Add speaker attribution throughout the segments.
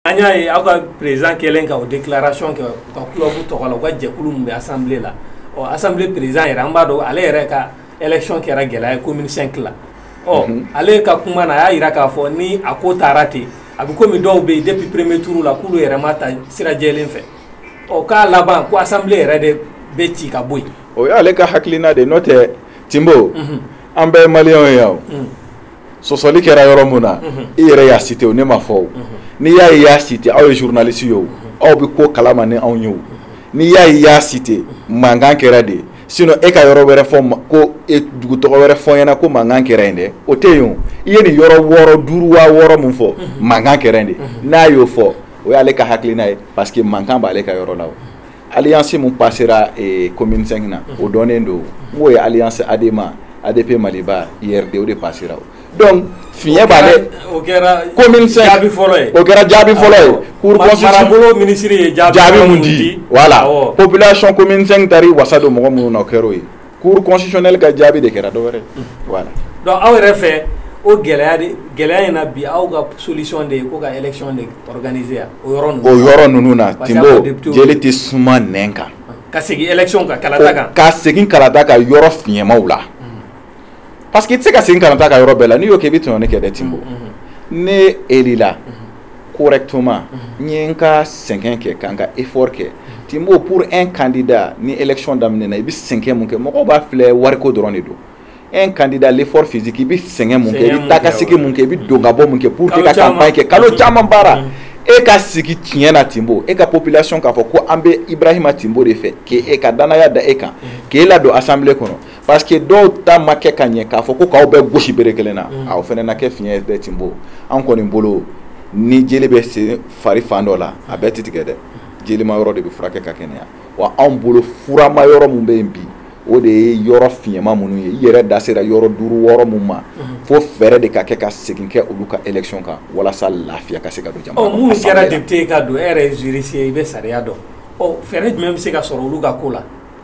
Speaker 1: an y'a ye aw ka président kɛlen ka o déclaration kɛ u ka club tɔgɔ la u ka jɛkulu min bɛ assemblée la ɔ assemblée président yɛrɛ an b'a dɔn ale yɛrɛ ka élection kɛra gɛlɛya ye commune 5 la ɔ mhm. ale ka kuma na a y'a yira k'a fɔ ni a ko taara ten a bɛ komi dɔw bɛ yen depuis premier tour la k'olu yɛrɛ ma ta sira jɛlen fɛ ɔ k'a laban ko assemblée yɛrɛ de bɛ ci ka bɔ yen. o y'ale ka hakilina
Speaker 2: de ye n'o tɛ Timbo mhm. an bɛɛ ye maliyɛnw ye yan o. Mhm. sɔsɔli kɛra yɔrɔ min na i yɛrɛ y'a cité o ne ma fɔ n'i y'a ye i y'a cité aw ye journaliste ye aw bɛ ko kalama ni anw ye n'i y'a ye i y'a cité mankan kɛra de sinon e ka yɔrɔ wɛrɛ fɔ ka dugu tɔgɔ wɛrɛ fɔ ɲɛna ko mankan kɛra yen dɛ o tɛ yen i ye nin yɔrɔ wɔɔrɔ duuru wa wɔɔrɔ min fɔ mankan kɛra yen de n'a y'o fɔ o y'ale ka hakilina ye parce que mankan b'ale ka yɔrɔ la alliance min passera eh, commune 5 na o mhm. dɔnnen don n'o ye alliance ADEMA ADP Maliba URD o de passera o donc fiɲɛ b'ale o
Speaker 1: kɛra commune 5 jaabi
Speaker 2: fɔlɔ ye o
Speaker 1: kɛra jaabi fɔlɔ
Speaker 2: ye cour constitution marabolo ministre
Speaker 1: ye jaabi mun di voilà
Speaker 2: population commune 5 taar'i wasa don mɔgɔ minnu na o kɛr'o ye cour constitutionnelle ka jaabi de kɛra dɔ wɛrɛ donc aw yɛrɛ
Speaker 1: fɛ o gɛlɛya gɛlɛya in na bi aw ka solution de ye ko ka élection de organiser yan o yɔrɔ o yɔrɔ ninnu na
Speaker 2: Timbo jeli tɛ suma nɛn kan ka segin
Speaker 1: élection kan kalata kan ka segin kalata
Speaker 2: kan yɔrɔ fiɲɛmaw la parce que i tɛ se ka segin kalata kan yɔrɔ bɛɛ la n'i y'o kɛ i bɛ tɔɲɔni kɛ dɛ Timbo ne élila correctement n ye n ka sɛgɛn kɛ ka n ka effort kɛ Timbo pour un candidat ni élection daminɛna i bɛ sɛgɛn mun kɛ mɔgɔw b'a filɛ wariko dɔrɔn de don un candidat l'effort physique i bɛ sɛgɛn mun kɛ i bɛ taakasegin mun kɛ i bɛ don ka bɔ mun kɛ pour que ka campagne kɛ kalo caman baara e ka sigi tiɲɛ na Timbo e ka population k'a fɔ ko an bɛ Ibrahima Timbo de fɛ k'e ka danaya da e kan k'e ladon assemblée kɔnɔ parce que dɔw ta ma kɛ ka ɲɛ k'a fɔ ko k'aw bɛɛ gosi bere kelen na mm. o fana na kɛ fiɲɛ dɛ Timbo an kɔni bolo ni jeli bɛ se fari fan dɔ la a bɛɛ tɛ tigɛ dɛ jelima yɔrɔ de bɛ furakɛ ka kɛnɛya wa anw bolo furama yɔrɔ min bɛ yen bi o de ye yɔrɔ fiɲɛma minnu ye i yɛrɛ da sera yɔrɔ duuru wɔɔrɔ minnu ma mm-hmm. fo fɛɛrɛ de ka kɛ ka segin kɛ olu ka élection kan walasa lafiya ka se ka don jamana kɔnɔ. ɔ minnu kɛra député ye
Speaker 1: ka don e yɛrɛ ye juriste ye i bɛ sariya dɔn ɔ fɛɛrɛ jumɛn bɛ se ka sɔrɔ olu ka ko la.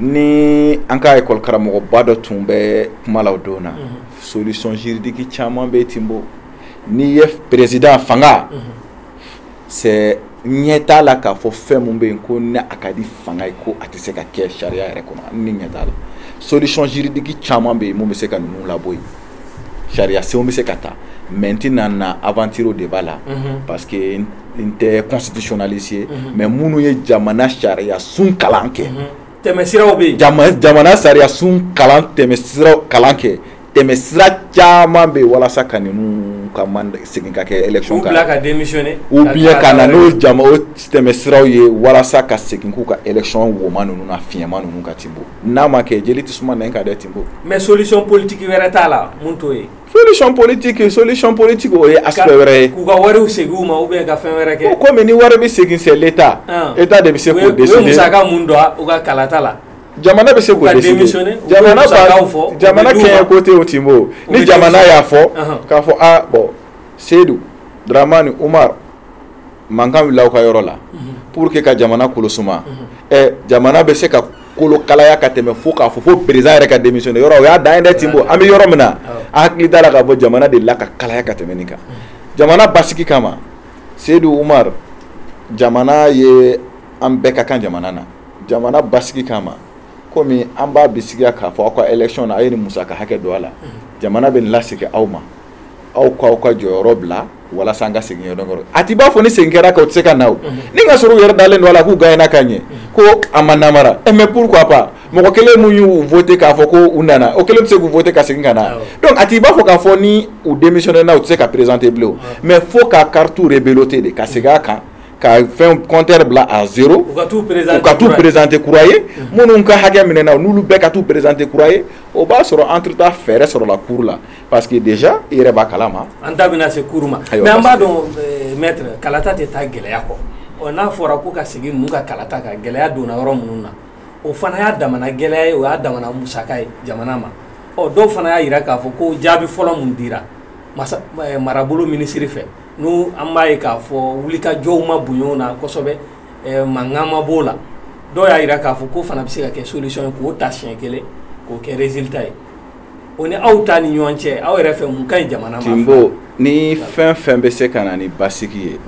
Speaker 2: ni an ka école karamɔgɔba dɔ tun bɛ kuma la o don na solution juridique caman bɛ Timbo n'i ye président fanga c'est ɲɛ t'a la k'a fɔ fɛn min bɛ yen ko ni a ka di fanga ye ko a tɛ se ka kɛ sariya yɛrɛ kɔnɔ ni ɲɛ t'a la solution juridique caman bɛ yen mun bɛ se ka ninnu labɔ yen sariyasenw bɛ se ka ta mais n tɛna n aventurer o débat la mhm. parce que n tɛ constitutionnaliste ye mhm. mais minnu ye jamana sariyasun kalan kɛ mhm. tɛmɛsiraw bɛ
Speaker 1: yen jamana sariyasun
Speaker 2: kalan tɛmɛsiraw kalan kɛ tɛmɛsira caman bɛ yen walasa ka ninnu ka man segin ka kɛ élection kan
Speaker 1: ou bien ka na
Speaker 2: n'o jama o tɛmɛsiraw ye walasa ka segin k'u ka élection woma ninnu na fiɲɛma ninnu kan Tinbo n'a ma kɛ jeli tɛ suma nɛn kan dɛ Tinbo. Mais solution
Speaker 1: politique wɛrɛ t'a la mun t'o ye. Solution
Speaker 2: politique solution politique o ye aspect wɛrɛ ye. K'u ka wariw segin u ma
Speaker 1: ou bien ka fɛn wɛrɛ kɛ. Ko komi ni wari bɛ segin
Speaker 2: c'est l'Etat. Etat de bɛ se k'o décider. U ye musaka mun don
Speaker 1: u ka kalata la. Jamana bɛ se
Speaker 2: k'o décider. Jamana b'a jamana kɛɲɛ ko tɛ o Tinbo. Ni jamana y'a fɔ k'a fɔ aa bon Seyidu Daramani Umaru. mankan wulila aw ka yɔrɔ la pour que ka jamana kolosuma ɛ jamana bɛ se ka kolo kalaya ka tɛmɛ fo k'a fɔ fo président yɛrɛ ka démissionner yɔrɔ o y'a dan ye dɛ Tinbo an bɛ yɔrɔ min na an hakili t'a la k'a fɔ jamana delila ka kalaya ka tɛmɛ nin kan jamana basigi kama seyidu umar jamana ye an bɛɛ ka kan jamana na jamana basigi kama komi an b'a bisigiya k'a fɔ aw ka élection na a ye nin musaka hakɛ don a la jamana bɛ nin lasegin aw ma aw k'aw ka jɔyɔrɔ bila walasa an ka segin yɔrɔ kɔrɔ a t'i b'a fɔ ni segin kɛra ka u tɛ se ka na o ni ka sɔrɔ u yɛrɛ dalen don a la k'u gagné na ka ɲɛ ko a ma namara ɛ mais pourquoi pas mɔgɔ kelen mun y'u voté k'a fɔ ko u nana o kelen bɛ se k'u voter ka segin ka na donc a t'i b'a fɔ k'a fɔ ni u démissionné na u tɛ se ka présenter bilen mais fo ka carte rebelote de ka segin a kan ka fɛn compteur bila à zéro u ka t'u présenter kura ye minnu ka hakɛ minɛna n'olu bɛɛ ka t'u présenter kura ye o b'a sɔrɔ entre temps fɛɛrɛ sɔrɔla cour la parce que déjà i yɛrɛ b'a kalama an da bɛna se cour
Speaker 1: ma mais an b'a dɔn euh, maître kalata tɛ taa gɛlɛya kɔ ɔ n'a fɔra ko ka segin ninnu ka kalata kan gɛlɛya donna yɔrɔ minnu na o fana y'a damana gɛlɛya ye o y'a damana musaka ye jamana ma ɔ dɔw fana y'a jira k'a fɔ ko jaabi fɔlɔ min dira masa eh, marabolo minisiri fɛ n'u an b'a ye k'a fɔ wulikajɔw ma bonya o na kosɛbɛ eh, mankan ma b'o la dɔw y'a jira k'a fɔ k'o fana bɛ se ka kɛ solution ye k'o ta siɲɛ kelen k'o kɛ résultat ye o ni aw ta ni ɲɔgɔn cɛ aw yɛrɛ fɛ mun ka ɲi jamana ma Tinbo ni
Speaker 2: fɛn fɛn bɛ se ka na ni basigi ye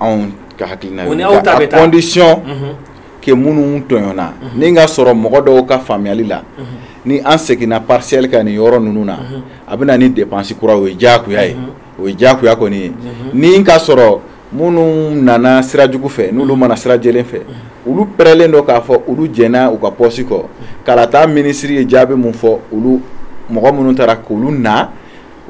Speaker 2: anw ka hakilina o ni aw ta bɛ taa à condition que minnu tɔɲɔna ni ka sɔrɔ mɔgɔ dɔw ka faamuyali la ni an seginna partiel kan nin yɔrɔ ninnu na a bɛ na ni dépense kuraw ye diyagoya ye o ye diyagoya kɔni ye ni ka sɔrɔ minnu nana sira jugu fɛ n'olu ma na sira jɛlen fɛ olu pɛrɛlen don k'a fɔ olu jɛnna u ka poste kɔ kalata minisiri ye jaabi min fɔ olu mɔgɔ minnu taara k'olu na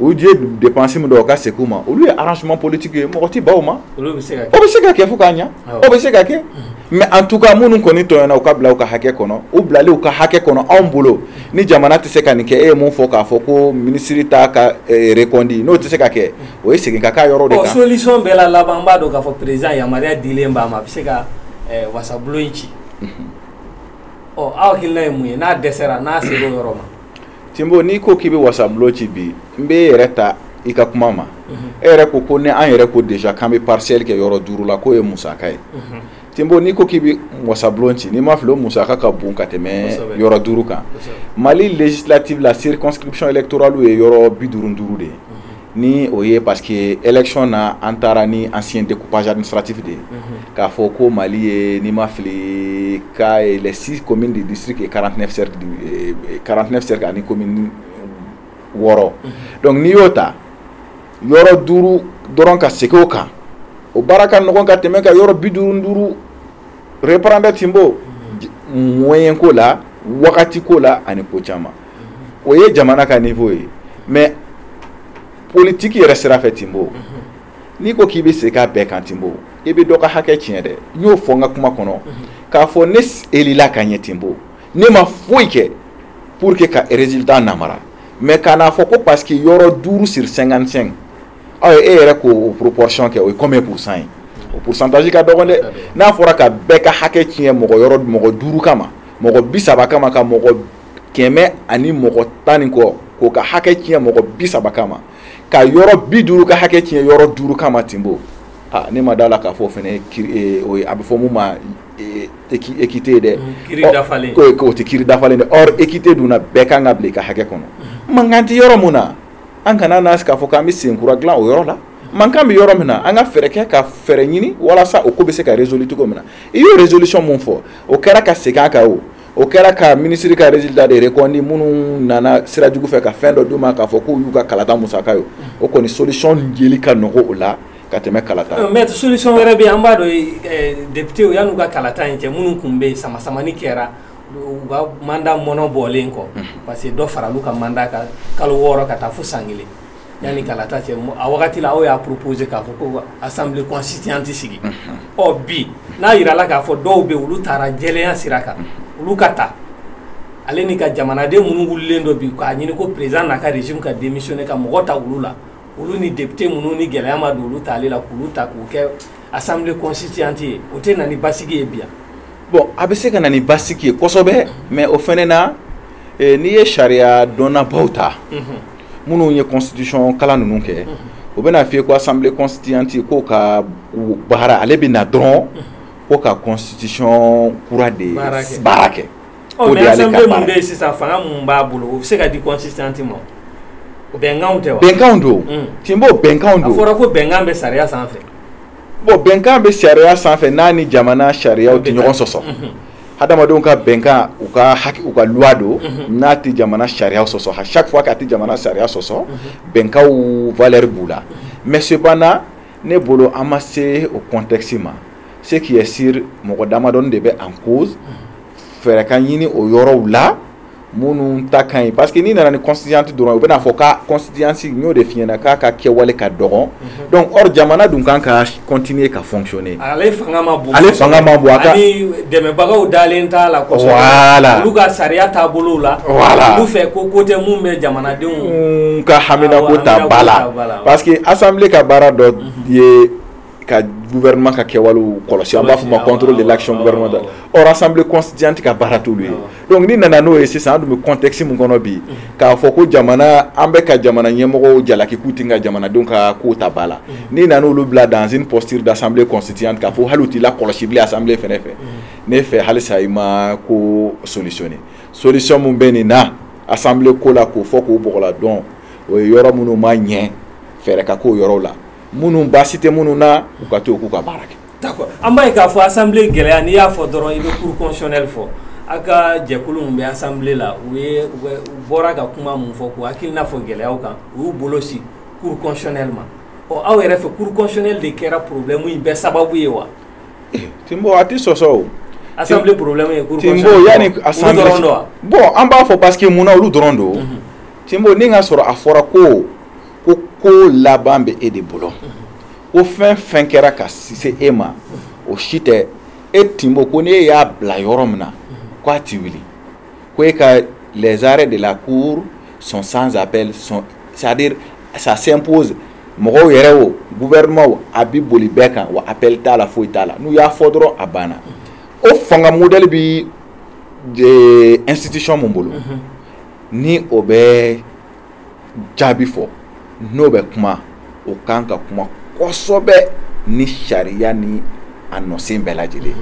Speaker 2: u ye dépense min don o ka segin u ma olu ye arrangement politique ye mɔgɔ tɛ ban o ma o bɛ se ka kɛ fo ka ɲɛ o bɛ se ka kɛ mais en tout cas minnu kɔni tɔɲɔna u ka bila u ka hakɛ kɔnɔ u bilali u ka hakɛ kɔnɔ anw bolo ni jamana tɛ se ka nin kɛ e ye min fɔ k'a fɔ ko minisiri ta ka reconduit n'o tɛ se ka kɛ o ye segin ka k'a yɔrɔ de kan solution bɛɛ la laban
Speaker 1: an b'a dɔn k'a fɔ président yamaruya dilen b'a ma a bɛ se ka eh, wasabulon in ci ɔ aw hakilina ye mun ye n'a dɛsɛra n'a sera o yɔrɔ ma Timbo n'i
Speaker 2: ko k'i bɛ wasabulon ci bi n bɛ e yɛrɛ ta i ka kuma ma e yɛrɛ ko ko ni an yɛrɛ ko déjà k'an bɛ partiel kɛ yɔrɔ duuru la k'o ye musaka ye Timbo n'i ko k'i bɛ wasabulon ci ni n ma fili o musaka ka bon ka tɛmɛ yɔrɔ duuru kan mali législative la circonscription électoralew ye yɔrɔ bi duuru duuru de ye ni o ye parce que élection na an taara ni ancien découpage administratif de ye k'a fɔ ko mali ye ni n ma fili ka les six communes du district et quarante-neuf cercles ani commune wɔɔrɔ donc n'i y'o ta yɔrɔ duuru dɔrɔn ka segin o kan o baara ka nɔgɔn ka tɛmɛ ka yɔrɔ bi duuru duuru reprendre timbo moyen ko la wagati ko la ani ko caman o ye jamana ka niveau ye mais politique yɛrɛ sira fɛ timbo n'i ko k'i bɛ segin a bɛɛ kan timbo i bɛ dɔ ka hakɛ tiɲɛ dɛ n y'o fɔ n ka kuma kɔnɔ k'a fɔ ne elila ka ɲɛ timbo ne ma foyi kɛ pour que ka résultat namara mais kan'a fɔ ko parce que yɔrɔ duuru sur 55 aw ye e yɛrɛ k'o proportion kɛ o ye combien pourcent ye o pourcentage ka dɔgɔn dɛ n'a fɔra ka bɛɛ ka hakɛ tiɲɛ mɔgɔ yɔrɔ mɔgɔ duuru kama mɔgɔ bi saba kama ka mɔgɔ kɛmɛ ani mɔgɔ tan ni kɔ k'o ka hakɛ tiɲɛ mɔgɔ bi saba kama ka yɔrɔ bi duuru ka hakɛ tiɲɛ yɔrɔ duuru kama Timbo aa ne ma d'a la k'a fɔ o fana ye kiri ee, o ye a bɛ fɔ mun ma ee, équité dɛ k'o tɛ kiri dafalen dɛ or équité dun na bɛɛ kan ka bila i ka hakɛ kɔnɔ mankan tɛ yɔrɔ min na an kana na k'a fɔ k'an bɛ senkura dilan o yɔrɔ la mankan bɛ yɔrɔ min na an ka fɛɛrɛ kɛ ka fɛɛrɛ ɲini walasa o ko bɛ se ka résoudre cogo min na i y'o résolution min fɔ o kɛra ka segin a kan o o kɛra ka minisiri ka résultat de reconduit minnu nana sira jugu fɛ ka fɛn dɔ d'u ma k'a fɔ k'o y'u ka kalata musaka ye o kɔni solution jeli ka nɔgɔ o la ka tɛmɛ kalata kan. Mais solution wɛrɛ
Speaker 1: bɛ yen an b'a dɔn eh, députés yan'u ka kalata in cɛ minnu tun bɛ yen sama samani kɛra u ka mandat mɔnɔ bɔlen kɔ mhm. parce que dɔ faral'u ka mandat kan kalo wɔɔrɔ ka taa fo san kelen yanni kalata cɛ a wagati la aw y'a proposé k'a fɔ ko assemblée constituante sigi mhm. ɔ bi n'a yirala k'a fɔ dɔw bɛ yen olu taara jɛlenya sira kan mhm. olu ka ta ale ni ka jamanaden minnu wulilen don bi k'a ɲini ko président n'a ka régime ka démissionner ka mɔgɔ ta olu la olu ni député minnu ni gɛlɛya ma don olu tali la k'olu ta k'u kɛ assemblée constituante ye o tɛ na ni basigi ye bi yan bon a bɛ se ka
Speaker 2: na ni basigi ye kosɛbɛ mais o fɛnɛ na eh, n'i ye sariya dɔnnabaw ta minnu ye constitution kalan ninnu kɛ o bɛna f'i ye ko assemblée constituante k'o ka baara ale bɛ na dɔrɔn ko ka constitution kura de baara kɛ o de
Speaker 1: y'ale ka baara ye. Ɔ mais assemblée min bɛ yen sisan fanga min b'a bolo o bɛ se ka di
Speaker 2: constituante ma o bɛnkanw tɛ wa. bɛnkanw don Timbo bɛnkanw don. a fɔra ko bɛnkan bɛ
Speaker 1: sariya sanfɛ. bon
Speaker 2: bɛnkan bɛ sariya sanfɛ n'a ni jamana sariyaw tɛ ɲɔgɔn sɔsɔ. hadamadenw ka bɛnkan u ka haki u ka loi don n'a tɛ jamana sariya sɔsɔ à chaque fois k'a tɛ jamana sariya sɔsɔ bɛnkanw valeur b'u la mais cependant ne bolo an ma se o contexte ma ce qui est sûr mɔgɔ damadɔni de bɛ en cause fɛɛrɛ ka ɲini o yɔrɔw la minnu ta ka ɲi parce que n'i nana ni constituante dɔrɔn u bɛn'a fɔ k'a constituante n y'o de f'i ɲɛna k'a ka kɛwale ka dɔgɔn mhm. donc or jamana dun kan ka continuer ka fonctionner ale fanga ma bon
Speaker 1: ale fanga ma bon a ka
Speaker 2: ani
Speaker 1: dɛmɛbagaw dalen t'a la kosɛbɛ voilà olu
Speaker 2: ka
Speaker 1: sariya taabolow la voilà olu fɛ
Speaker 2: ko ko tɛ mun
Speaker 1: bɛ jamanadenw
Speaker 2: ka haminako ta ba la parce
Speaker 1: que
Speaker 2: assemblée ka baara dɔ mhm. ye ka gouvernement ka kɛwalew kɔlɔsi an b'a fɔ ma contrôle de l'action gouvernementale or assemblée constituante ka baara t'olu ye donc n'i nana n'o ye sisan an dun bɛ contexte min kɔnɔ bi k'a fɔ ko jamana an bɛ ka jamana ɲɛmɔgɔw jalaki k'u tɛ ka jamanadenw ka kow ta ba la n'i nana olu bila dans une posture d'assemblée constituante k'a fɔ hali u t'i lakɔlɔsi bilen assemblée fɛnɛ fɛ ne fɛ halisa i ma ko solutionner solution min bɛ nin na assemblée ko la k'o fɔ k'o bɔgɔla dɔn o ye yɔrɔ minnu ma ɲɛ fɛɛrɛ ka k'o yɔrɔw la minnu baasi tɛ minnu na u ka to k'u ka baara kɛ an b'a ye k'a fɔ
Speaker 1: asan gɛlɛya n'i y'a fɔ dɔrɔn i bɛ kurusɛri fɔ aw ka jɛkulu bɛ asan la u bɔra ka kuma min fɔ ko hakili n'a fɔ gɛlɛya kan u y'u bolo si kurusɛri ma ɔ aw yɛrɛ fɛ kurusɛri de kɛra porobilɛmu in bɛɛ sababu ye wa te a
Speaker 2: tɛ sɔsɔ
Speaker 1: asan
Speaker 2: bɔn an b'a fɔ pa que mun olu dɔrɔn don te n ka sɔrɔ a fɔra ko ko laban bɛ e de bolo ko fɛn fɛn kɛra ka se e ma o si tɛ e Timbo ko n'e y'a bila yɔrɔ min na ko a ti wuli ko e ka les arrêts de la cour sont sans appel sont c'est à dire ça s'impose mɔgɔw yɛrɛ o gouvernement o a bi boli bɛɛ kan wa appel t'a la foyi t'a la n'u y'a fɔ dɔrɔn a banna o fanga modèle bi institution mun bolo ni o bɛ jaabi fɔ n'o bɛ kuma o kan ka kuma kosɛbɛ ni sariya ni a nɔsen bɛɛ lajɛlen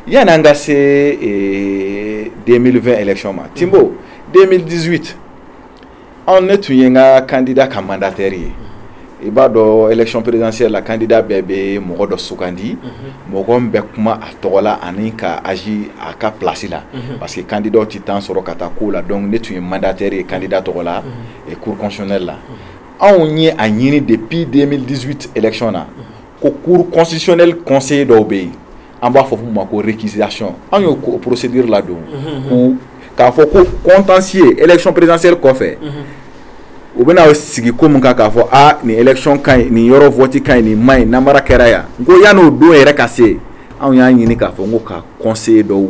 Speaker 2: yanni an ka se 2020 eh, élection ma Timbo 2018 anw ne tun ye n ka candidat ka mandataire ye i b'a dɔn élection présidentielle la candidat bɛɛ bɛ mɔgɔ dɔ sugandi mhm. mɔgɔ min bɛ kuma a tɔgɔ la ani ka agir a ka place la mhm. parce que candidat tɛ temps sɔrɔ ka taa ko la donc ne tun ye mandataire ye candidat tɔgɔ la mhm. cour constitutionnelle la anw ye a ɲini depuis 2018 élection na ko cour constitutionnelle conseiller dɔw bɛ yen an b'a fɔ mun ma ko récusation an y'o procédure ladon ko k'a fɔ ko contentieux élection présidentielle kɔfɛ u bɛna sigi ko min kan k'a fɔ a nin élection ka ɲi nin yɔrɔ vote ka ɲi nin man ɲi namara kɛra yan n ko yan'o don yɛrɛ ka se anw y'a ɲini k'a fɔ n ko ka conseiller dɔw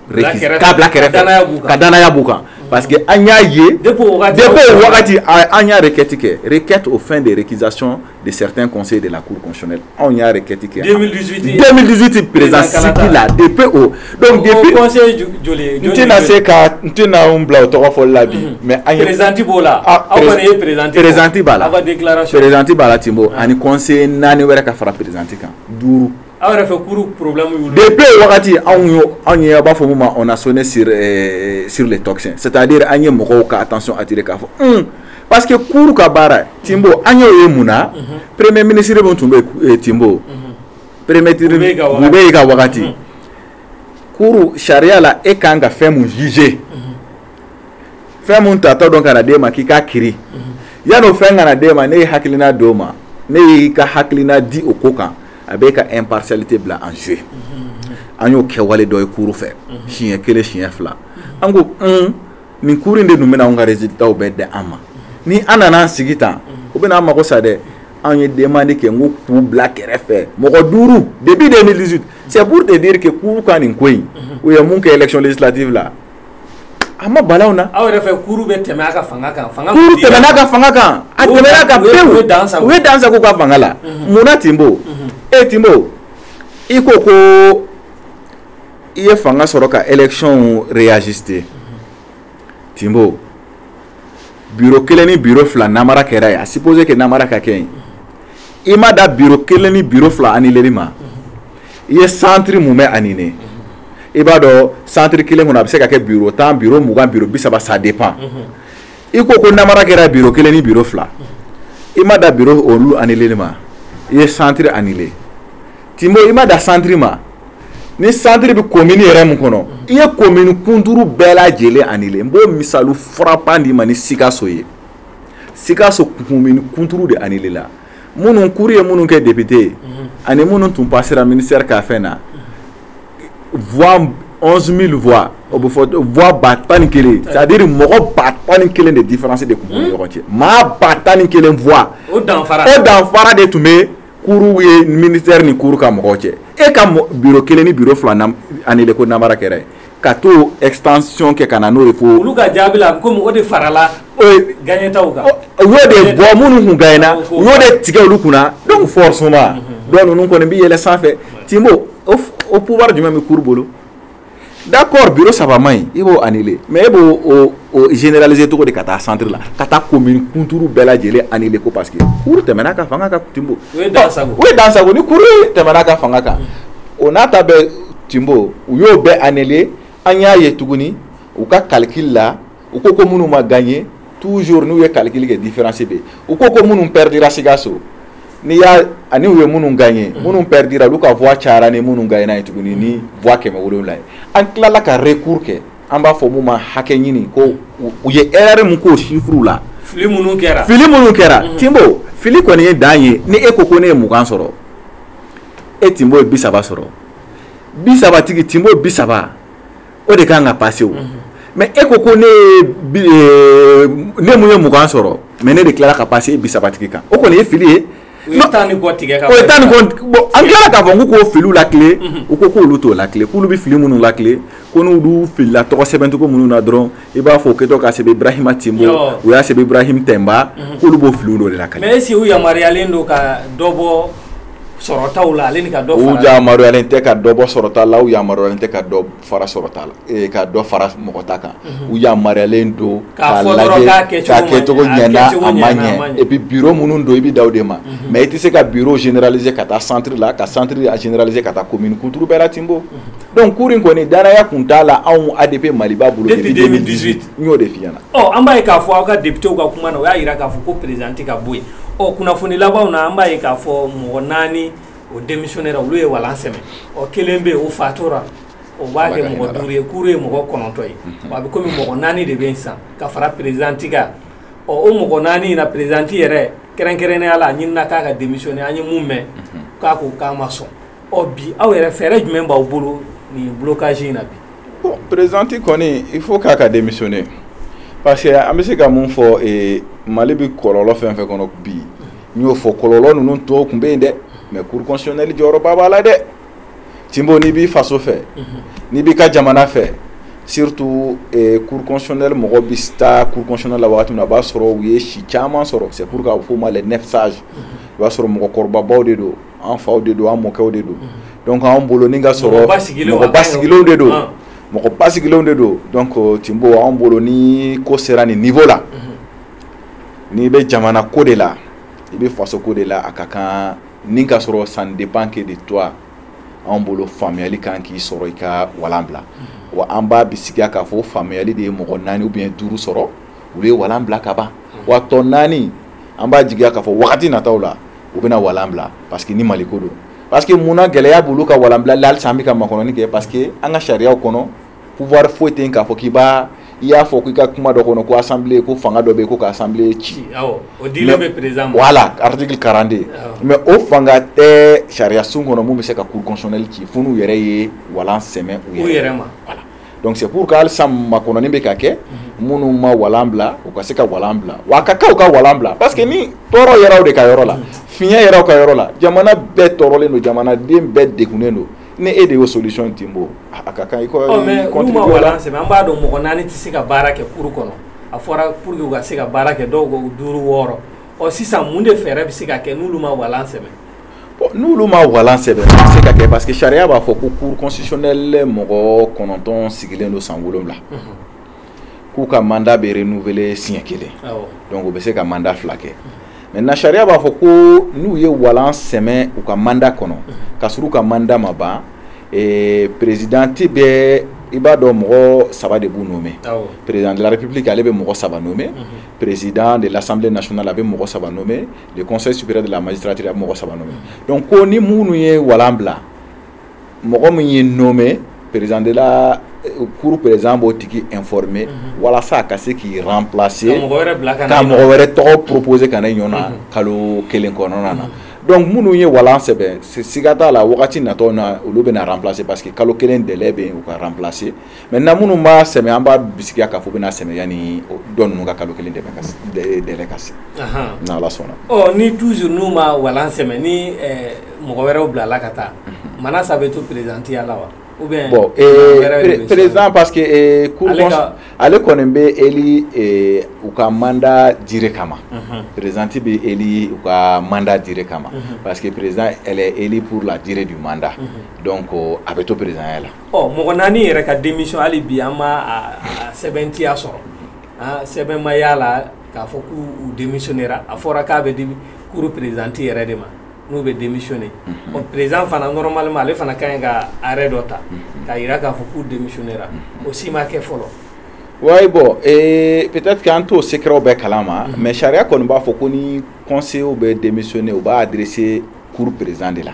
Speaker 2: k'a bila kɛrɛfɛ ka danaya b'u kan parce que an y'a ye depuis o wagati an y'a requête kɛ requête aux fins de récusation de certains conseillers de la cour constitutionnelle anw y'a requête kɛ 2018 2018 président sigi la depuis o donc depuis conseiller
Speaker 1: joli n tɛna se
Speaker 2: ka n tɛna n bila o tɔgɔ fɔli la bi mais an ye présidente b'o la aw
Speaker 1: kɔni ye présidente présidente b'a la aw ka
Speaker 2: déclaration présidente
Speaker 1: b'a la Timbo
Speaker 2: ani conseiller naani wɛrɛ ka fara présidente kan duuru Aw yɛrɛ
Speaker 1: fɛ cour problème y'u la depuis o wagati
Speaker 2: anw y'o anw ye a' b'a fɔ mun ma on a sonné sur ɛɛ sur les tocsins c'est à dire an ye mɔgɔw ka attention attirer k'a fɔ un parce que cour ka baara Timbo an y'o ye mun na unhun premier ministre mun tun bɛ yen e Timbo unhun premier ministre Boubèye ka wagati Boubèye ka wagati unhun cour sariya la e kan ka fɛn mun juger unhun fɛn mun taatɔ don ka na d'e ma k'i k'a kiri unhun yan'o fɛn ka na d'e ma n'e ye hakilina d'o ma n'e y'i ka hakilina di o ko kan a b'e ka impartialité bila en jeu an y'o kɛwale dɔ ye cour fɛ siɲɛ kelen siɲɛ fila an ko un nin cour in de dun bɛna anw ka résultats bɛɛ di an ma ni an nana an sigi tan o bɛna an mago sa dɛ anw ye demande kɛ n ko k'u bila kɛrɛfɛ mɔgɔ duuru depuis 2018 c'est pour te dire que cour ka nin ko in u ye mun kɛ élection législative la A ma bal'anw na aw yɛrɛ fɛ cour bɛ
Speaker 1: tɛmɛ a ka fanga kan cour tɛmɛna a ka fanga
Speaker 2: kan a tɛmɛna a kan pewu u ye dan sago u ka fanga la munna Timbo e Timbo i ko ko i ye fanga sɔrɔ ka élection réajuster Timbo biro kelen ni biro fila namara kɛra yen à supposer que namara ka kɛ yen i ma dan biro kelen ni biro fila annuleli ma i ye centre mumɛ annulé i b'a dɔn centre kelen kɔnɔ a bɛ se ka kɛ biro tan biro mugan biro bi saba ça dépend i ko ko namara kɛra biro kelen ni biro fila i ma dan biro olu annuleli ma i ye centre annulé Timbo i ma dan centre ma ni santiri bɛ komini yɛrɛ min kɔnɔ i ye komini kunturu bɛɛ lajɛlen anile n b'o misali frappant d'i ma ni sikaso ye sikaso komini kunturu de anilela minnu kuru ye minnu kɛ depite ye mhm. ani minnu tun pasera ministère ka fɛn na voix onze mille voix o bɛ fɔ voix ba tan ni kelen c'est à dire mɔgɔ ba tan ni kelen de différence de tun b'u ni mhm. ɲɔgɔn cɛ maa ba tan ni kelen voix o danfara o danfara de tun bɛ kuru ye ministère ni kuru ka mɔgɔw cɛ e ka biro kelen ni biro fila anile ko namara kɛra yen ka to extension kɛ ka na n'o ye fo olu ka jaabi la ko mɔgɔ
Speaker 1: de farala
Speaker 2: gagnetaw kan u y'o
Speaker 1: de
Speaker 2: bɔ minnu kun gagnena u y'o de tigɛ olu kunna donc forcément dɔ ninnu kɔni bɛ yɛlɛ sanfɛ Timbo o pouvoir jumɛn bɛ kuru bolo d'accord biro saba man ɲi i b'o anile mais e b'o généraliser cogo di ka taa centre la ka taa komini kunturu bɛɛ lajɛlen anile ko parce que kuru tɛmɛna ka fanga kan
Speaker 1: Timbo o ye dansago ni kuru
Speaker 2: tɛmɛna ka fanga kan o n'a ta bɛɛ Timbo u y'o bɛɛ anile an y'a ye tuguni u ka calcul la u ko ko minnu ma gagné toujours n'u ye calcul kɛ différence bɛ yen u ko ko minnu perdira Sikaso n'i y'a ani u ye minnu gagné mm. minnu perdira olu ka voix cayara ni minnu gagnena ye tuguni ni voix kɛmɛ wolonwula ye an tilala ka recours kɛ an b'a fɔ mun ma hakɛ ɲini ko u ye erreur mun k'o chiffres la fili minnu
Speaker 1: kɛra fili minnu kɛra mm-hmm. Timbo
Speaker 2: fili kɔni ye dan ye ni e ko ko ne ye mugan sɔrɔ e Timbo ye bi saba sɔrɔ bi saba tigi Timbo bi saba o de kan ka pase o mais e ko ko ne ne mun ye mugan sɔrɔ mais ne de tilala ka pase e bi saba tigi kan o kɔni ye fili ye tan ni kɔ
Speaker 1: tigɛ o ye tan ni bɔn
Speaker 2: an tilala k'a fɔ u k'o filiw latilen u ko k'olu t'o latilen k'olu bɛ fili minnu latilen ko n'u dun filila tɔgɔ sɛbɛncogo minnu na dɔrɔn i b'a fɔ o kɛtɔ ka sɛbɛn Ibrahima Timbo u y'a sɛbɛn Ibrahim Tɛnba k'olu b'o filiw dɔ de latilen mais est-ce que u yamaruyalen
Speaker 1: don ka dɔ bɔ sɔrɔtaw la ale ni ka dɔ fara u yamaruyalen tɛ ka
Speaker 2: dɔ bɔ sɔrɔta la u yamaruyalen tɛ ka dɔ fara sɔrɔta la ee ka dɔ fara mɔgɔ ta kan u yamaruyalen don k'a lajɛ k'a kɛcogo ɲɛna a ma ɲɛ et puis bureau minnu don i bɛ da o de ma mais i tɛ se ka bureau généraliser ka taa centre la ka centre généraliser ka taa commune kunturu bɛɛ la Timbo donc cour in kɔni dannaya kun t'a la anw ADP Maliba bolo depuis 2018 n y'o de f'i ɲɛna ɔ an b'a ye k'a fɔ aw
Speaker 1: ka depitew ka kuma na o y'a jira k'a fɔ ko présidente ka bɔ yen ɔ kunnafoni labanw na an b'a ye k'a fɔ mɔgɔ naani o démissionnera olu ye walan sɛmɛ ɔ kelen bɛ yen o fatora o b'a kɛ mɔgɔ duuru ye kuru ye mɔgɔ kɔnɔntɔ ye a bɛ komi mɔgɔ naani de bɛ yen sisan ka fara présidente kan ɔ o mɔgɔ naani in na présidente yɛrɛ kɛrɛnkɛrɛnnenya la a ɲinina k'a ka démissionner an ye mun mɛn k'a ko k'a ma sɔn ɔ bi aw yɛrɛ fɛɛrɛ jumɛn b'aw bolo nin blocage in na bi bon président
Speaker 2: kɔni il faut k'a ka démissionner parce que an bɛ se ka mun fɔ ee mali bɛ kɔlɔlɔ fɛn fɛn kɔnɔ bi n y'o fɔ kɔlɔlɔ ninnu tɔw tun bɛ yen dɛ mais cour constitutionnelle jɔyɔrɔba b'a la dɛ tinbo n'i b'i faso fɛ n'i b'i ka jamana fɛ surtout eh, cour constitutionnelle mɔgɔ bɛ taa cour constitutionnelle la wagati min na a b'a sɔrɔ u ye si caman sɔrɔ c'est pour k'a fɔ ma les neuf sages i b'a sɔrɔ mɔgɔkɔrɔbabaw de don an faw de don an mɔkɛw de don donc anw bolo ni ka sɔrɔ mɔgɔ basigilenw de don mɔgɔ basigilenw de don donc euh, tinbo anw bolo ni ko sera nin niveau la n'i bɛ jamana ko de la i bɛ faso ko de la a ka kan ni ka sɔrɔ ça ne dépend que de toi anw bolo faamuyali kan k'i sɔrɔ i ka walan bila wa an b'a bisigiya k'a fɔ faamuyali de ye mɔgɔ naani ou bien duuru sɔrɔ olu ye walan bila ka ban wa tɔ naani an b'a jigiya k'a fɔ wagati nataw la u bɛna walan bila parce que ni mali ko don parce que mun na gɛlɛya b'olu ka walan bilali la halisa an bɛ ka makɔnɔni kɛ parce que an ka sariyaw kɔnɔ pouvoir foyi tɛ yen k'a fɔ k'i b'a i y'a fɔ k'i ka kuma dɔ kɔnɔ ko assemblée ko fanga dɔ bɛ yen ko ka assemblée ci awɔ o dilen
Speaker 1: bɛ président ma voilà
Speaker 2: article 42 mais o fanga tɛ sariyasun kɔnɔ mun bɛ se ka cour constitutionnelle ci fo n'u yɛrɛ ye walan sɛmɛ u yɛrɛ ma voilà donc c'est pour que hali sisan makɔnɔni bɛ ka kɛ minnu ma walan bila u ka se ka walan bila wa a ka kan u ka walan bila parce que ni tɔɔrɔ yɛrɛ de ka yɔrɔ la fiɲɛ yɛrɛ ka yɔrɔ la jamana bɛɛ tɔɔrɔlen don jamanaden bɛɛ degunnen don ni e de y'o solution tinbo a ka kan i ko oh, mais n'u ma
Speaker 1: walan sɛmɛ an b'a dɔn mɔgɔ naani tɛ se ka baara kɛ cour kɔnɔ a fɔra pour que u ka se ka baara kɛ dɔw ko duuru wɔɔrɔ ɔ sisan mun de fɛɛrɛ bɛ se ka kɛ n'olu ma walan sɛmɛ
Speaker 2: n'olu ma walan sɛmɛ a bɛ se ka kɛ parce que sariya b'a fɔ ko cour constitutionnelle mɔgɔ kɔnɔntɔn sigilen don san wolonwula k'u ka mandat bɛ renouveler siɲɛ kelen donc u bɛ se ka mandat fila kɛ maintenant sariya b'a fɔ ko n'u ye walan sɛmɛ u ka mandat kɔnɔ ka sɔrɔ u ka mandat ma ban eh, président bɛ i b'a dɔn mɔgɔ saba de b'u nommé président de la république ale bɛ mɔgɔ saba nommé président de l'assemblée nationale a bɛ mɔgɔ saba nommé le conseil supérieur de la magistrature a bɛ mɔgɔ saba nommé donc ko ni minnu ye walan bila mɔgɔ min y'i nommé président de la cour président b'o tigi informer mhm. walasa a ka se k'i remplacer ka mɔgɔ wɛrɛ bila ka na ka mɔgɔ wɛrɛ tɔgɔ proposer ka na i ɲɔ na mhm. kalo kelen kɔnɔna na. Mhm. donc minnu ye walan sɛmɛ siga t'a la wagati natɔ na olu bɛna remplacer parce que kalo kelen délai bɛ yen u ka remplacer mɛ na minnu b'a sɛ an b'a bisimilaya ka fɔ bɛna sɛnɛ ni dɔn ninnu ka kalo kelen dɛ ka se ala sɔnna ni tu n'u ma
Speaker 1: wa sɛ ni mɔgɔ wɛrɛw bila ala ka taa mana saba bɛ to pereztiya la wa bɔn
Speaker 2: perez pa que ale kɔni bɛ e u ka manda jiri kama perezti bɛ e u ka manda jiri kama pa que perez e purla jiri de manda dɔn ko a bɛ to perezya la ɔ mɔgɔ naani yɛrɛ ka
Speaker 1: denmisɛn hali bi an ma sɛbɛntiya sɔrɔ sɛbɛn ma y'a la k'a fɔ k'u denmisɛnninra a fɔra k'a bɛ di kuru perezti yɛrɛ de ma n'u bɛ denmisɛnnin ɔ perez fana nɔrɔma ma ale fana ka ɲi ka yɛrɛ dɔ ta k'a jira k'a fɔ k'u denmisɛnninra o si ma kɛ fɔlɔ wa bɔn
Speaker 2: ee pteti an t'o seerew bɛɛ kalan ma mɛ sariya kɔni b'a fɔ ko ni kɔnsew bɛ denmisɛnnin u b'a dse kuru perezan de la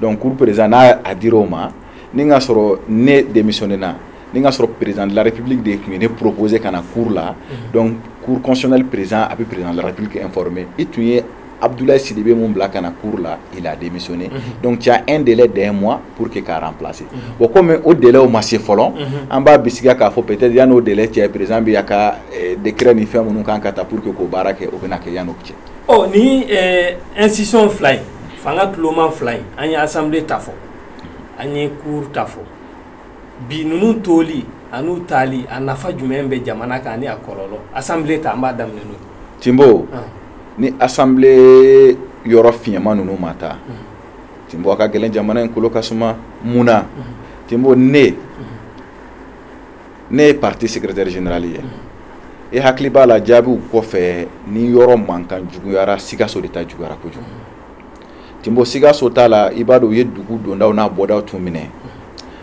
Speaker 2: donc cour président n'a a dira o ma ni ka sɔrɔ ne démissionner na ni ka sɔrɔ président de la république de tun ye ne proposer ka na cour la mhm. donc cour constitutionnelle président a bɛ président de la république informer i tun ye Abdoulaye Sidibe mun bila ka na cour la il a démissionné mhm. donc tu as un délai d'un mois pour que k'a remplacer mhm. bon comme o délai o ma se fɔlɔ mhm. an b'a bisigiya k'a fɔ peut-être yan'o délai cɛ président bɛ a ka eh, décret ni fɛn minnu kan ka ta pour que k'o baara kɛ o bɛna kɛ yan'o cɛ ɔ ni eh,
Speaker 1: institution fila in fanga tuloma fila in an ye asanbile ta fɔ an ye cour ta fɔ bi ninnu toli an'u taali a nafa jumɛn bɛ jamana kan ani a kɔlɔlɔ asanbile ta an b'a daminɛ n'o ye tinbo
Speaker 2: ah. ni asanbile yɔrɔ fiɲɛma ninnu ma taa mm. tinbo a ka gɛlɛn jamana in kolo ka suma mun na mm. tinbo ne mm. ne ye parti secrétaire général ye e hakili b'a la jaabiw kɔfɛ ni yɔrɔ mankan juguyara sikaso de ta juguyara kojugu tinbo sikaso ta la i b'a dɔn u ye dugu dondaw n'a bɔdaw tun minɛ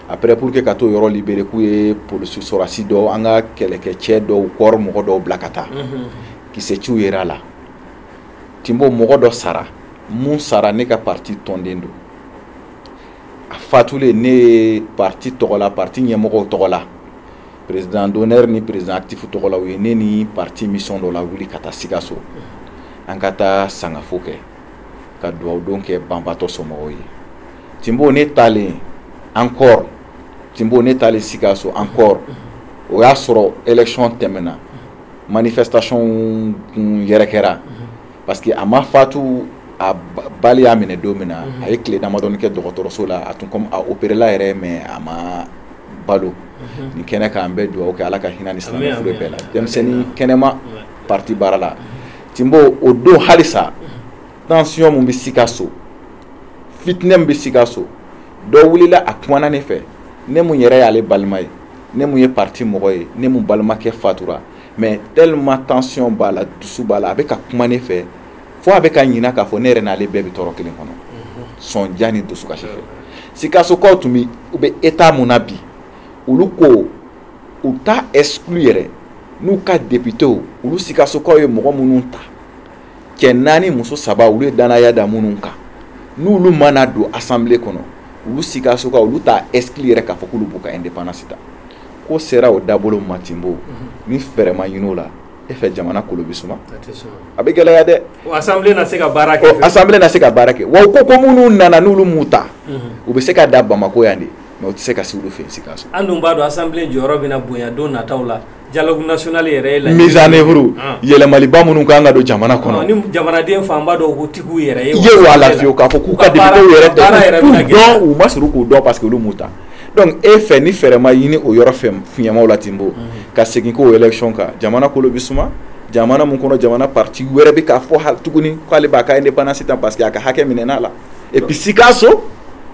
Speaker 2: après pour que ka t'o yɔrɔ libérer k'u ye polisiw sɔrɔdasi dɔw an ka kɛlɛkɛcɛ dɔw kɔrɔ mɔgɔ dɔw bila ka taa kisɛciw yera a la tinbo mɔgɔ dɔ sara min sara ne ka parti tɔnden don a fatulen ne ye parti tɔgɔ la parti ɲɛmɔgɔw tɔgɔ la président d'honneur ni président actif tɔgɔ la u ye ne ni parti mission dɔ lawuli ka taa sikaso an ka taa sangafo kɛ ka dugawudon kɛ banbatɔ somɔgɔw ye tinbo ne taalen encore tinbo ne taalen sikaso encore o y'a sɔrɔ élection tɛmɛna manifestation kun yɛrɛ kɛra parce que a ma fatu a balle y'a minɛ don min na mhm. a ye tile damadɔni kɛ dɔgɔtɔrɔso la a tun comme a opéréla yɛrɛ mais a ma balo mhm. nin kɛnɛ kan an bɛ dugawu kɛ ala ka hinɛ ni silamɛ fure bɛɛ la denmisɛnnin kɛnɛma parti baara la mhm. tinbo o don halisa tension min bɛ sikaso fitinɛ min bɛ sikaso dɔ wulila a kumana ne fɛ ne mun yɛrɛ y'ale balima ye ne mun ye parti mɔgɔ ye ne mun balimakɛ fatura mais tellement tension b'a la dusu b'a la a bɛ ka kuma ne fɛ fo a bɛ ka ɲina k'a fɔ ne yɛrɛ n'ale bɛɛ bɛ tɔɔrɔ kelen kɔnɔ mhm. sɔnja ni dusukasi fɛ sikasokaw tun bɛ u bɛ état mun na bi olu ko u t'a exclu yɛrɛ n'u ka députew olu sikasokaw ye mɔgɔ minnu ta cɛ naani muso saba olu ye danaya da minnu kan n'olu mana don assemblée kɔnɔ olu sikasokaw olu t'a exclu yɛrɛ k'a fɔ k'olu b'u ka indépendance ta ko sera o dabolo ma tinbo ni fɛɛrɛ ma ɲini o la e fɛ jamana kolo bɛ suma a bɛ gɛlɛya dɛ assemblée na se ka
Speaker 1: baara kɛ assemblée na se ka baara kɛ
Speaker 2: wa ko ko minnu nana n'olu m'u ta u bɛ se ka da bamakɔ yan de mais u tɛ se ka se olu fɛ sikaso an dun b'a dɔn
Speaker 1: assemblée jɔyɔrɔ bɛna bonya don nataw la dialogue national yɛrɛ ye la mise en
Speaker 2: œuvre yɛlɛmaliba minnu kan ka don jamana kɔnɔ ni jamanaden fanba
Speaker 1: dɔw ko tigiw yɛrɛ ye ye wa lafiyewu k'a fɔ k'u
Speaker 2: ka députés yɛrɛ tɛ k'u dɔn u ma surun k'u dɔn parce que olu m'u ta donc e fɛ ni fɛɛrɛ ma ɲini o yɔrɔ fɛ fiɲɛmaw la tinbo ka segin ko élection kan jamana kolo bɛ suma jamana min kɔnɔ jamana partie wɛrɛ bɛ k'a fɔ tuguni k'ale b'a ka indépendance ta parce que a ka hakɛ minɛn'a la et puis sikaso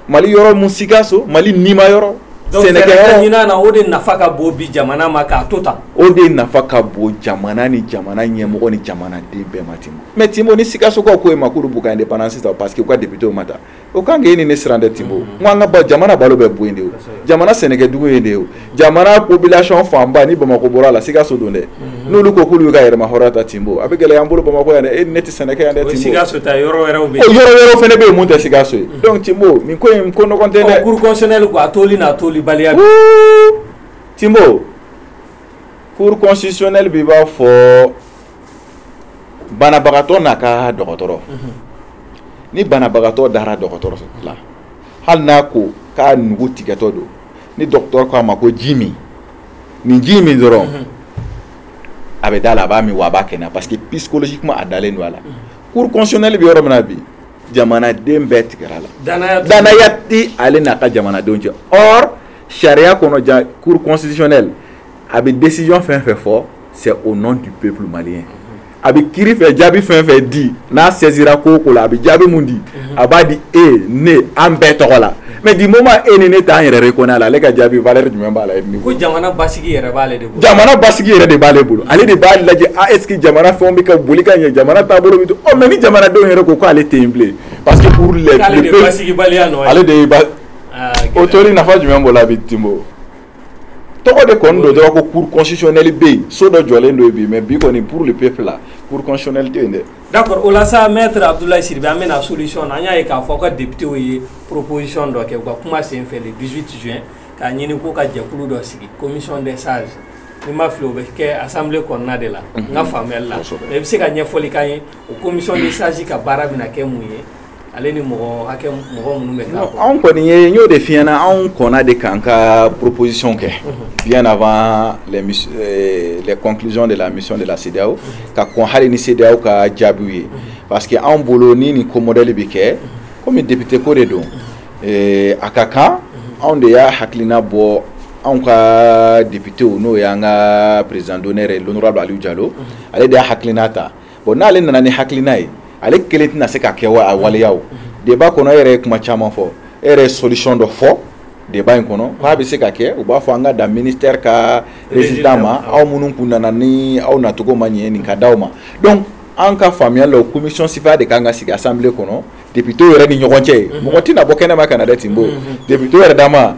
Speaker 2: mali yɔrɔ mun sikaso mali nima yɔrɔ
Speaker 1: sɛnɛ o de nafa ka bon bi jamana ma k'a to ta o de nafa
Speaker 2: ka bon jamana ni jamana ɲɛmɔgɔ ni jamanaden bɛɛ ma tinbo mais tinbo ni sikasokaw ko e ma k'olu b'u ka indépendance ta parce que u ka députew ma ta o kan k'e ni ne siran dɛ tinbo n ko an ka jamana balo bɛ bɔ yen de o jamana sɛnɛkɛdugu yen de ye o jamana population fanba ni bamakɔ bɔra a la sikaso don dɛ n'olu ko k'olu bɛ ka yɛrɛmahɔrɔnya ta tinbo a bɛ gɛlɛya an bolo bamakɔ yan dɛ e ni ne tɛ sɛnɛ kɛ yan dɛ tinbo sikaso ta yɔrɔ
Speaker 1: wɛrɛw bɛ yen yɔrɔ wɛrɛw fana bɛ yen
Speaker 2: mun tɛ sikaso ye donc tinbo nin ko in ko nɔgɔn tɛ dɛ cour constitutionnelle ko a
Speaker 1: toli n'a tolibaliya bɛ
Speaker 2: tinbo cour constitutionnelle b'i b'a fɔ banabagatɔ n'a ka dɔgɔtɔrɔ ni banabagatɔ dara dɔgɔtɔrɔ la hali n'a ko k'a nugu tigɛtɔ don ni dɔgɔtɔrɔ ko a ma ko ji min nin ji min dɔrɔn a bɛ da a la a b'a min wa a b'a kɛnɛya parce que psychologiquement a dalen don a la cour constitutionnelle bɛ yɔrɔ min na bi jamanaden bɛɛ tigɛra a la danaya tɛ ale n'a ka jamanadenw cɛ or sariya kɔnɔ la cour constitutionnelle a bɛ décision fɛn fɛn fɔ c'est au nom du peuple malien a bɛ kiiri fɛ jaabi fɛn fɛn di n'a saisira ko o ko la a bɛ jaabi mun di a b'a di e ne an bɛɛ tɔgɔ la mais du moment e ni ne t'an yɛrɛ reconnaît a la ale ka jaabi valeur jumɛn b'a la e ni ko jamana
Speaker 1: basigi yɛrɛ b'ale de bolo jamana basigi yɛrɛ
Speaker 2: de b'ale bolo ale de b'a lajɛ a ah, est ce que jamana fɛnw bɛ ka boli ka ɲɛ jamana taabolo bɛ to ɔ mais ni jamanadenw yɛrɛ ko k'ale tɛ yen bilen parce que pour eux ale de ye basigibaliya
Speaker 1: nɔ ye ale de ye ba
Speaker 2: o toli nafa jumɛn b'o la bi tinbo tɔgɔ de kɔni don dɔrɔn ko cour constitutionnelle bɛ yen so dɔ jɔlen don bi mais bi kɔni pour le peuple la cour constitutionnelle tɛ yen dɛ. d'accord o la sa
Speaker 1: maître Abdoulaye Sidibe an bɛna solution na an y'a ye k'a fɔ aw ka députés ye proposition dɔ kɛ u ka kuma senfɛ le 18 juin k'a ɲini ko ka jɛkulu dɔ sigi commission des sages n'i ma fili o bɛ kɛ assemblée kɔnɔna de la n ka faamuyali la mais i bɛ se ka ɲɛfɔli k'an ye o commission des sages ka baara bɛna kɛ mun ye. Ale ni mɔgɔ hakɛ mɔgɔ minnu bɛ taa anw kɔni ye n y'o
Speaker 2: de f'i ɲɛna anw kɔnna de k'an ka proposition kɛ bien avant les euh, conclusions de la mission de la CEDEAO ka kɔn hali ni CEDEAO ka jaabiw ye parce que anw bolo ni nin ko modèle bɛ kɛ komi député ko de don euh, a ka kan anw de y'a hakilina bɔ anw ka député n'o y'an ka président d'honneur ye l'honorable Aliou Diallo ale de y'a hakilina ta bon n'ale nana ni hakilina ye ale kelen tɛna se ka kɛ a waleya o débat kɔnɔ e yɛrɛ ye kuma caman fɔ e yɛrɛ ye solution dɔ fɔ débat in kɔnɔ k'a bɛ se ka kɛ u b'a fɔ an ka da ministère ka résident ma aw minnu kun nana ni aw nacogo ma ɲɛ nin ka d'aw ma donc an ka faamuya la o commission sifa de kan ka sigi assemblée kɔnɔ député yɛrɛ ni ɲɔgɔn cɛ ye mhm. mɔgɔ tɛna bɔ kɛnɛma ka na dɛ Timbo mhm. député yɛrɛ dama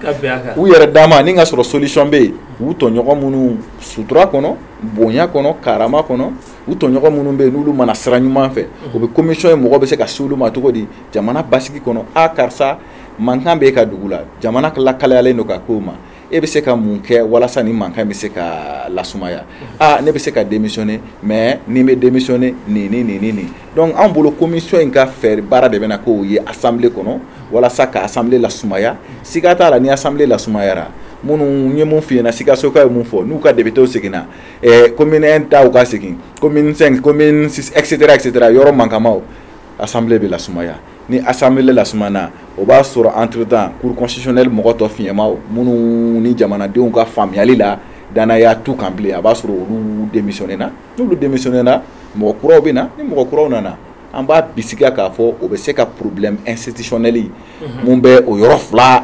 Speaker 2: u yɛrɛ dama ni ka sɔrɔ solution bɛ yen u tɔɲɔgɔn minnu sutura kɔnɔ bonya kɔnɔ karama kɔnɔ u tɔɲɔgɔn minnu bɛ yen n'olu ma na sira ɲuman fɛ o bɛ commission ye mɔgɔ bɛ se ka se olu ma cogo di jamana basigi kɔnɔ a karisa mankan bɛ e ka dugu la jamana lakalayalen don ka k'o ma e bɛ se ka mun kɛ walasa nin mankan bɛ se ka lasumaya aa ne bɛ se ka démissionner mais ni bɛ démissionner nin ni nin ni nin donc anw bolo commission in ka fɛ baara de bɛna k'o ye assemblée kɔnɔ walasa ka assemblée lasumaya siga t'a la ni assemblée lasumayara minnu ye mun f'i ɲɛna Sikasokaw ye mun fɔ n'u ka députéw seginna commune 1 taw ka segin commune 5 commune 6 etc etc yɔrɔ mankamaw assemblée bɛ lasumaya ni assemblée lasumana o b'a sɔrɔ entre temps cour constitutionnelle mɔgɔ tɔ fiɲɛmaw minnu ni jamanadenw ka faamuyali la dannaya t'u kan bilen a b'a sɔrɔ olu démissionné na n'olu démissionné na mɔgɔ kuraw bɛ na ni mɔgɔ kuraw nana an b'a bisigiya k'a fɔ o bɛ se ka problème institutionnel mun bɛ o yɔrɔ fila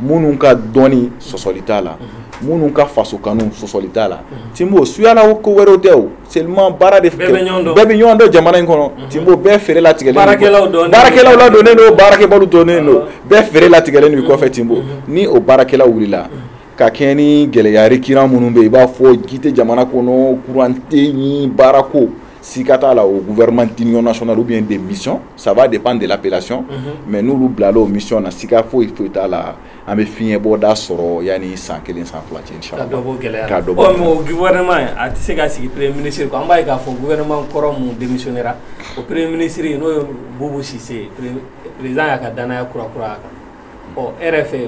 Speaker 2: minnu ka dɔnni sɔsɔli t'a la minnu ka faso kanu sɔsɔli t'a la Timbo suyala ko wɛrɛw tɛ o seulement baara de bɛɛ bɛ ɲɔgɔn dɔn jamana in kɔnɔ Timbo bɛɛ feere latigɛlen baarakɛlaw dɔnnen don baarakɛbaliw dɔnnen don bɛɛ feere latigɛlen don i kɔfɛ Timbo ni o baarakɛlaw wulila ka kɛɲɛ ni gɛlɛya récurrent minnu bɛ yen i b'a fɔ ji tɛ jamana kɔnɔ courant tɛ yen baarako sika t'a la o gouvernement d'union nationale ou bien de mission ça va dépendre de l'appellation mm -hmm. mais n'olu bilala o mission na sika foyi foyi t'a la an bɛ fiɲɛbɔda sɔrɔ yanni san kelen san fila cɛ inchallah ka dɔ bɔ gɛlɛya ka dɔ bɔ
Speaker 1: ɔ mais o gouvernement a tɛ se ka sigi premier ministre ko an b'a ye k'a fɔ gouvernement kɔrɔ mun démissionnera o premier ministre n'o ye Bubu Sise ye président y'a ka danaya kura kura a kan ɔ e yɛrɛ fɛ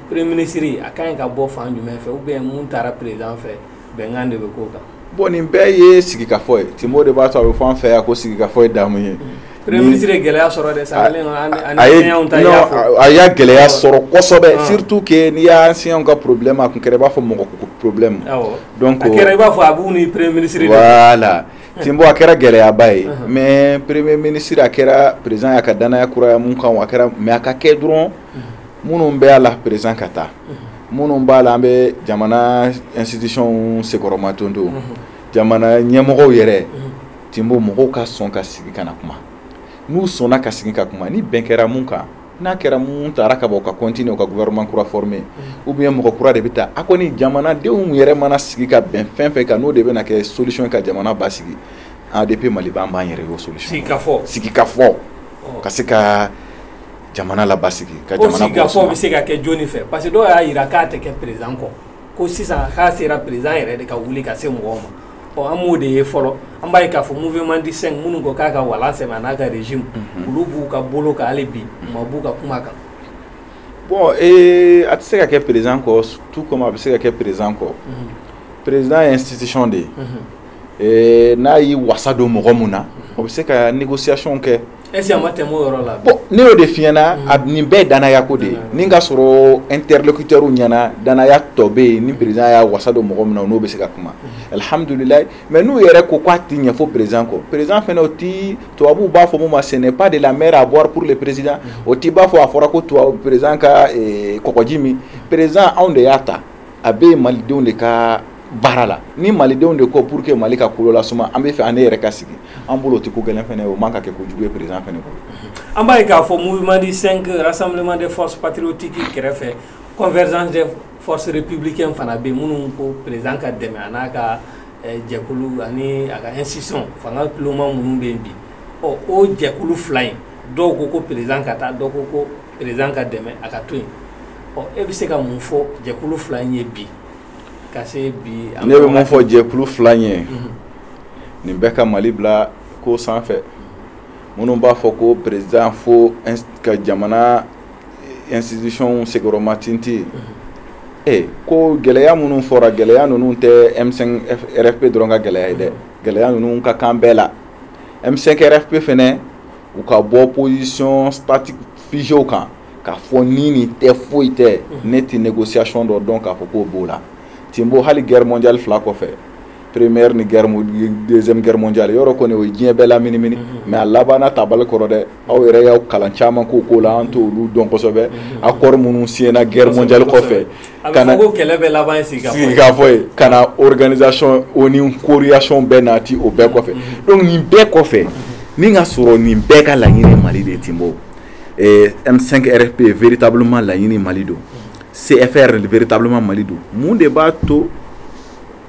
Speaker 1: premier ministre a ka ɲi ka bɔ fan jumɛn fɛ ou bien mun tara président fɛ bɛnkan de bɛ k'o kan bon nin bɛɛ
Speaker 2: ye sigikafɔ ye Timbo de b'a to a bɛ fɔ an fɛ yan ko sigikafɔ ye damu ye premier ministre ye
Speaker 1: gɛlɛya sɔrɔ dɛ ça kɛlen don an a ye enseignants ta i y'a fɔ non
Speaker 2: a y'a gɛlɛya sɔrɔ kosɛbɛ surtout que n'i ye enseignants ka problème a tun kɛra i b'a fɔ mɔgɔ ko problème awɔ donc a
Speaker 1: kɛra i b'a fɔ a b'u ni premier ministre de
Speaker 2: voilà Timbo a kɛra gɛlɛyaba ye mais premier ministre a kɛra président y'a ka danaya kuraya mun kan a kɛra mais a ka kɛ dɔrɔn minnu bɛ a la président ka taa minnu b'a la an bɛ jamana institution senkɔrɔmadondon jamana ɲɛmɔgɔw yɛrɛ Timbo mɔgɔw ka sɔn ka sigi ka na kuma n'u sɔnna ka sigi ka kuma ni bɛn kɛra mun kan n'a kɛra mun tara ka bɔ ka continuer ka gouvernement kura former ou bien mɔgɔ kura de bɛ ta a kɔni jamanadenw yɛrɛ mana sigi ka bɛn fɛn fɛn kan n'o de bɛna kɛ solution ka jamana basigi ADP Maliba an b'an yɛrɛ
Speaker 1: y'o
Speaker 2: solution sigikafɔ sigikafɔ ka se ka jamana labasigi sigikafɔ
Speaker 1: bɛ se ka kɛ jɔnni fɛ parce que dɔw y'a jira k'a tɛ kɛ président kɔ ko sisan k'a sera président yɛrɛ de ka wuli ka se mɔgɔw ma ɔ an m'o de ye fɔlɔ an b'a ye k'a fɔ mouvement du 5 minnu ko k'a ka wala sɛ n'a ka régime mhm. olu b'u ka bolo kan hali bi mhm. ma b'u ka kuma kan
Speaker 2: bon ee a tɛ se ka kɛ président kɔ tout comme a bɛ se ka kɛ président kɔ mhm. président ye institution de ye n'a y'i wasa don mɔgɔ min na o bɛ se ka négociation kɛ E
Speaker 1: ma tɛ yɔrɔ la ne y'o de fiɲɛna
Speaker 2: a nin bɛɛ danya ko de ye nin ka sɔrɔ n terirelokicɛw ɲɛnaana danya tɔ bɛ yen ni perezd y'a wasa don mɔgɔ min na n'o bɛ se ka kuma alihamdulila mɛ n'u yɛrɛ ko k'a tɛ ɲɛfɔ perez kɔ perez fana o tɛ tubabubu b'a fɔ ma sɛnɛ ba de la mɛ a bɔra porour perez o t'i b'a fɔ a fɔra ko tubabu perezan ka kɔɔgɔji min perezsan anw de y'a ta a bɛ yen malidenw de ka baara la ni malidenw de ko pour que Mali ka kolo lasuma an bɛ fɛ an yɛrɛ ka sigi an bolo o tɛ ko gɛlɛn fana o man ka kɛ ko jugu ye président fana bolo an b'a ye k'a
Speaker 1: fɔ
Speaker 2: mouvement
Speaker 1: du 5 rassemblement des forces patriotiques kɛrɛfɛ convergence des forces républicaines fana bɛ minnu ko président ka dɛmɛ a n'a ka eh, jɛkulu ani a ka institution fanga tuloma minnu bɛ yen bi ɔ o jɛkulu fila in dɔw ko ko président ka taa dɔw ko ko président ka dɛmɛ a ka to yen ɔ e bɛ se ka mun fɔ jɛkulu fila in ye bi ka se bi.
Speaker 2: ne bɛ mun fɔ jɛkulu fila in ye mhm. nin bɛɛ ka mali bila ko sanfɛ minnu b'a fɔ ko président fo ka jamana institution sigiyɔrɔma tinti mhm. e eh, ko gɛlɛya minnu fɔra gɛlɛya ninnu tɛ m5 rfp dɔrɔn ka gɛlɛya ye dɛ mhm. gɛlɛya ninnu ka kan bɛɛ la. M5 RFP fɛnɛ u ka bɔ position statique figée kan k'a fɔ ni nin tɛ foyi tɛ ne ti négociation dɔ dɔn k'a fɔ k'o b'o la timbo hali guerre mondiale fila kɔfɛ première ni deuxième guerre mondiale yɔrɔ kɔni o ye diɲɛ bɛɛ laminimini mais a labanna tabali kɔrɔ dɛ aw yɛrɛ y'aw kalan caman k'o ko la an t'olu dɔn kosɛbɛ accord minnu signéna guerre mondiale
Speaker 1: kɔfɛ ka ka na
Speaker 2: organisation ONU création bɛɛ nati o bɛɛ kɔfɛ donc nin bɛɛ kɔfɛ ni ka sɔrɔ nin bɛɛ ka laɲini mali de timbo m5 rfp véritablement laɲini mali don cfr véritablement mali don mun de b'a to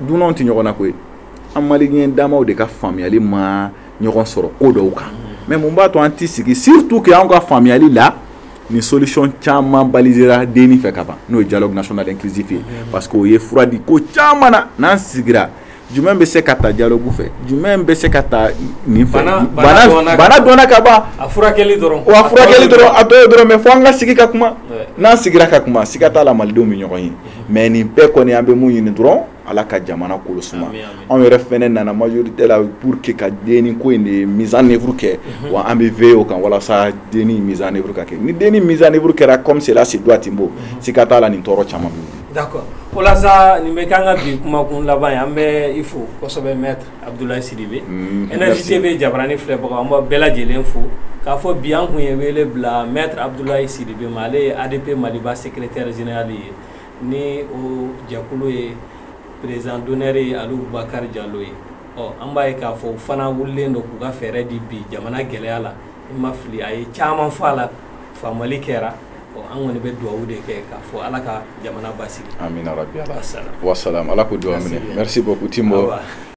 Speaker 2: dunanw ti ɲɔgɔn na koyi an maliyɛn damaw de ka faamuyali ma ɲɔgɔn sɔrɔ ko dɔw kan mais mun b'a to an ti sigi surtout que anw ka faamuyali la nin solution caman balisera DNI fɛ ka ban n'o ye dialogue national inclusif ye parce que o ye fura di ko caman na n'an sigira jumɛn bɛ se ka ta dialogue fɛ jumɛn bɛ se ka ta nin fɛ bana dɔnna ka ban a furakɛli dɔrɔn
Speaker 1: wa furakɛli dɔrɔn a
Speaker 2: bɛɛ dɔrɔn mais fo an ka sigi ka kuma n'an sigira ka kuma siga t'a la malidenw bɛ ɲɔgɔn ye mais nin bɛɛ kɔni an bɛ mun ɲini dɔrɔn ala ka jamana kolo suma anw yɛrɛ fɛnɛ nana majorité la pour que ka DNI ko in de mise en œuvre kɛ mhm. wa an bɛ veiller o kan walasa DNI mise en œuvre ka kɛ ni DNI mise en œuvre kɛra comme cela se doit timbo mhm. siga t'a la nin tɔɔrɔ caman bɛ d'accord o la
Speaker 1: sa nin bɛ k'an ka bi kumakun laban ye an bɛ i fo kosɛbɛ maître abdoulaye sidibe mm, énergie tv jabarani filɛbagaw an b'aw bɛɛ lajɛlen fo k'a fɔ bi an kun ye wele bila maître abdoulaye sidibe ma ale ye adp maliba secrétaire général ye ni o jɛkulu ye président d'honneur ye aliu bubakar jalo ye ɔ an b'a ye k'a fɔ u fana wulilen don k'u ka fɛɛrɛ di bi jamana gɛlɛya la i ma fili a ye caman fɔ a la faamali kɛra ɔ an kɔni bɛ dugawu de kɛ k'a fɔ ala ka jamana basigi
Speaker 2: amina
Speaker 1: rabi
Speaker 2: ala wa salam ala
Speaker 1: k'o
Speaker 2: dugawu minɛ merci beaucoup
Speaker 1: timbo